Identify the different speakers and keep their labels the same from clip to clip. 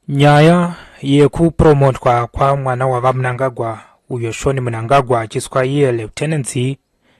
Speaker 1: nyaya yekupromotwa kwamwana wavamunangagwa uyo shoni munangagwa achiswa iye lieutenancy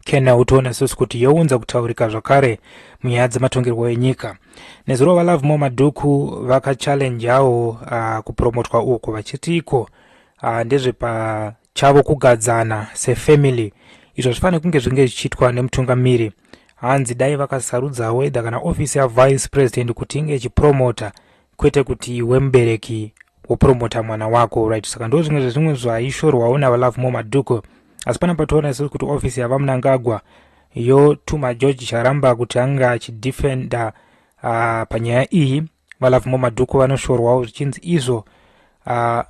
Speaker 1: kena utoona sisi kuti younza kutaurika zvakare munyaya dzematongerwo enyika nezuro valovemore madhuku vakachallenjawo uh, kupromotwa uku vachiti iko uh, ndezvepa chavo kugadzana sefamily izvo zvifanire kunge zvinge zvichiitwa nemutungamiri hanzi dai vakasarudzawo edha kana ofisi yavice president kuti inge ichipromota kwete kuti iwe mubereki wopromota mwana wako right saka ndo zvimwe zvezvimwe zvaishorwawo navalove mo madhuko asi pana patoona isiri kuti ofisi yavamunangagwa yotuma george charamba kuti ange achidefenda uh, panyaya iyi VaLovemore Madhuku vanoshorwawo zvichinzi izvo uh,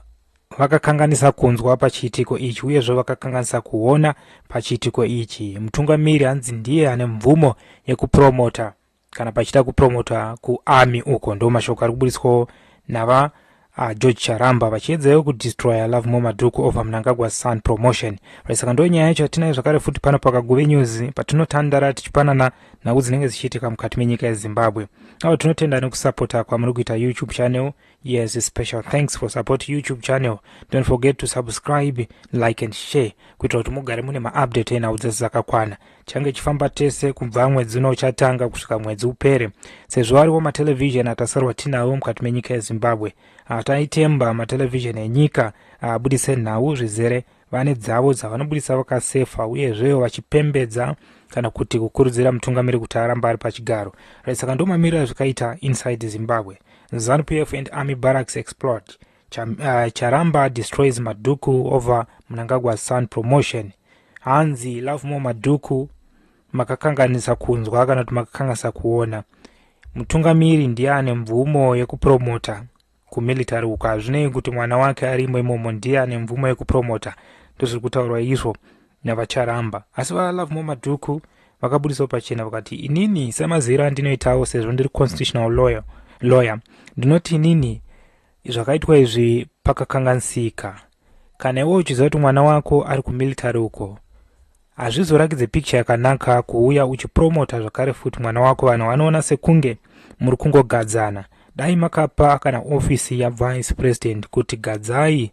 Speaker 1: vakakanganisa kunzwa pachiitiko ichi uyezve vakakanganisa kuona pachiitiko ichi mutungamiri hanzi ndiye ane mvumo yekupromota kana pachida kupromota kuarmy uko ndo mashoko ari kubudiswawo nava Ah, George Charamba vachiedzawo kudestroyer Love More Madhuku over Mnangagwa Sun Promotion. Right, saka ndo nyaya yacho yatinayo zvakare futi pano pakaguve news patinotandara tichipanana nhau dzinenge dzichiitika mukati menyika yeZimbabwe. Avo tinotenda nekusapota kwamuri kuita YouTube channel. Yes, special thanks for support YouTube channel. Don't forget to subscribe, like and share kuitira kuti mugare mune maupdate enhau dzese dzakakwana. change chifamba tese kubva mwedzi uno uchatanga kusvika mwedzi upere sezvo ariwo matelevhizheni atasarwa tinawo mukati menyika yezimbabwe ataitemba matelevhizheni enyika abudise nhau zvizere vane dzavo dzavanobudisa vakasefa uyezvewo vachipembedza kana kuti kukurudzira mutungamiri kuti aramba ari pachigaro saka ndomamirira zvakaita inside zimbabwe zanupf and army barracks explode Cham, uh, charamba destroys madhuku over mnangagwa sun promotion hanzi love more madhuku makakanganisa kunzwa kana kuti makakanganisa kuona mutungamiri ndiye ane mvumo yekupromota kumilitary uko hazvinei kuti mwana wake arimo imomo ndiye ane mvumo yekupromota ndozviri kutaurwa izvo navacharamba asi valove more madhuku vakabudisawo pachena vakati inini semaziviro andinoitawo sezvo ndiri constitutional lawyer, lawyer ndinoti inini Zvakaitwa izvi pakakanganisika. Kana iwe uchiziva kuti mwana wako ari kumilitary uko, hazvizorakidze picture yakanaka kuuya uchipromota zvakare futi mwana wako vanhu vanoona sekunge muri kungogadzana dai makapa kana ofisi yavice president kuti gadzai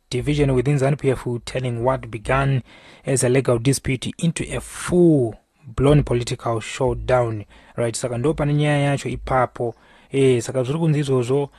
Speaker 1: division within ZANU-PF telling what began as a legal dispute into a full blown political showdown right saka ndo pane nyaya yacho ipapo e, saka zviri kunzi izvozvo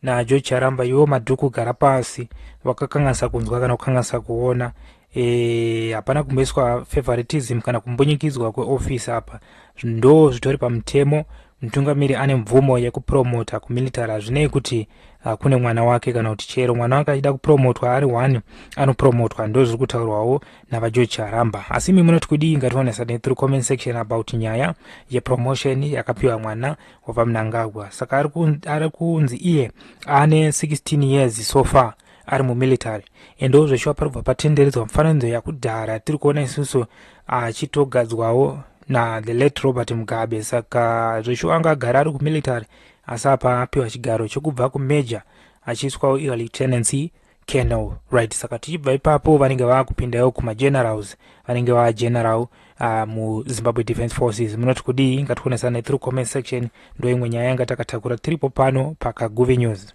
Speaker 1: najo charamba iwo madhuku gara pasi vakakanganisa kunzwa kana kukanganisa kuona eh, hapana e, kumboiswa favoritism kana kumbunyikidzwa kweofisi apa ndo zvitori pamutemo Mutungamiri ane mvumo yekupromota kumilitary hazvinei kuti uh, kune mwana wake kana kuti chero mwana wake achida kupromotwa ari one anopromotwa ndo zviri kutaurwawo navageorge charamba asi imi munoti kudii ngativanesane through comment section about nyaya yepromotion yakapiwa mwana wavamunangagwa saka ari kunzi iye ane 16 years so far ari mumilitary endewo zveshuwa pari kubva patenderedzwa mufananidzo yakudhara tiri kuona isusu achitogadzwawo na the late robert mugabe saka zveshuwa anga agara ari kumilitary asi apa apiwa chigaro chekubva kumajor achiiswawo iwa lieutenancy colonel right saka tichibva ipapo vanenge vaakupindawo kumagenerals vanenge vageneral uh, ah, muzimbabwe defense forces munoti kudii ngationesane through comment section ndoimwe nyaya yanga takatakura tiripo pano pakaguvi news